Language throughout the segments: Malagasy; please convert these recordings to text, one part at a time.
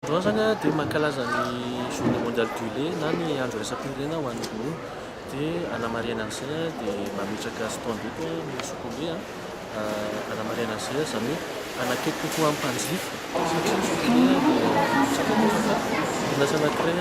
Androany izany dia mankalaza ny journée mondiale du lait na ny andro iraisam-pirenena ho an'ny ronono dia hanamarihana an'izay dia mametraka stand eto ny Sokombe hanamarihana an'izay izany hoe hanakaiky kokoa ny mpanjifa satria ny Sokombe dia orinasa anankiray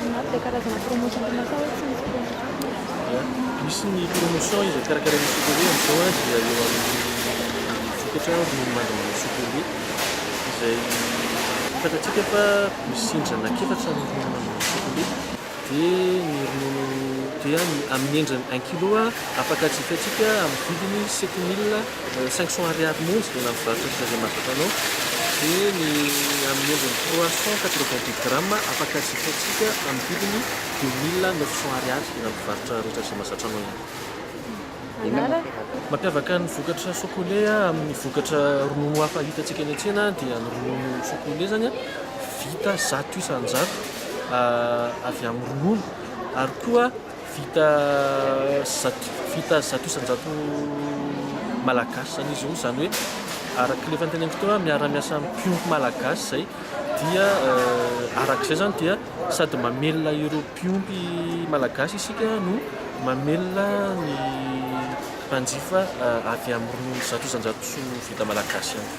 Inona avy ilay karazana promotion tena sao hoe tsy misy promotion? Misy ny promotion izay karakarain'ny Sokole amin'izao an, dia eo amin'ny vokatra ronono mandrahona Sokole izay fantatsika fa misy sindrana efatra ny ronono mandrahona Sokole. Dia ny ronono dia amin'ny endriny un kilo afaka jifaintsika amin'ny vidiny sept mille. Cinq cents ariary monja dia navorarin'ny Président Jamal Tano dia ny amin'ny endriny trois cents quatre vingt dix grammes afaka jifaintsika amin'ny vidiny deux mille neuf cents ariary eny amin'ny mpivarotra rehetra izay mahazatra anao ihany koa. Inona no mampiavaka? Mampiavaka ny vokatra Sokole amin'ny vokatra ronono hafa hitantsika eny an-tsena dia ny ronono Sokole izany vita zato isan-jato avy amin'ny ronono ary koa Vita zato vita zato isan-jato malagasy izany izy io, izany hoe araka ilay efa noteneniko teo hoe miara-miasa amin'ny mpiompy malagasy izay dia araka izay izany dia sady mamelona ireo mpiompy malagasy isika no mamelona ny mpanjifa avy amin'ny ronono zato isan-jato vita malagasy ihany koa.